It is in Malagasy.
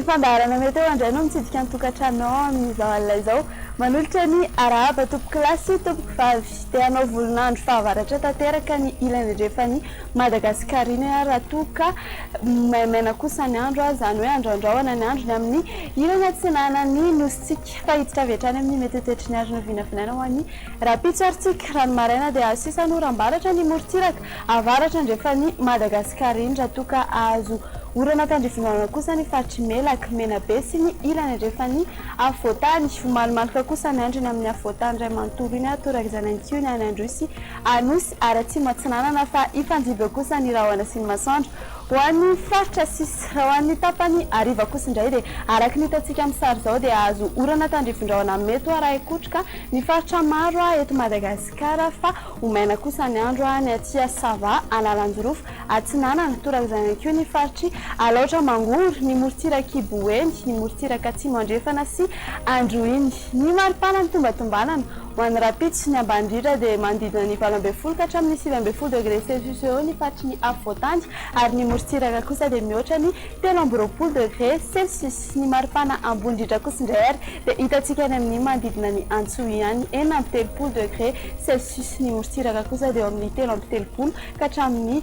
Fandaharana mety eo andray no mitsidika ny tokantranonao amin'izao alina izao. Manolotra ny arahaba tompokolahy sy tompokovavy. Te hanao volon'andro fahavaratra tanteraka ny ilany andrefan'ny. Madagasikarinay ary raha toa ka maimaina kosa ny andro, izany hoe androandroana ny andro ny amin'ny ilany atsinana ny Nosintsika. Fa hiditra avy hatrany amin'ny mihetsetsetsy ny arina vinavinaina ho an'ny rahampitso ary tsika. Raha ny maraina dia azo sisa ny oram-baratra ny morontsiraka avaratra andrefan'i Madagasikara iny, raha toa ka azo orana tandrifindoana kosa ny faritr'i Melaky, Menabe sy ny ilany andrefan'ny afovoantany. Ho malomaloka kosa ny andro eny amin'ny afovoantany iray manontolo iny ary torak'izany ihany koa ny any Androy sy Anosy ary Atsimo Atsinanana fa hifandimby eo kosa ny rahona sy ny masoandro ho an'ny faritra sisa. Raha ho an'ny tapany hariva kosa indray dia araka ny hitantsika amin'ny sary izao dia hahazo orana tandrifindraona mety ho arahin-kotroka ny faritra maro eto Madagasikara fa ho maina kosa ny andro any Atsya Sava, Analanjirofo, Atsinanana, torak'izany ihany koa ny faritr'i Alaotra Mangoro, ny morontsirak'i Boeny, ny morontsiraka Atsimo Andrefana sy Androhiny. Ny maripana nitombatombanana. Mandrapitsy, ny ambany indrindra dia manodidina ny valo ambin'ny folo ka hatramin'ny sivy ambin'ny folo degre celsius eo ny faritry ny afovoan-tany ary ny morontsiraka kosa dia mihoatra ny telo amby roapolo degre celsius. Ny maripana ambony indrindra kosa indray ary dia hitantsika any amin'ny manodidina ny Antsohiany, enina amby telopolo degre celsius. Ny morontsiraka kosa dia eo amin'ny telo amby telopolo ka hatramin'ny.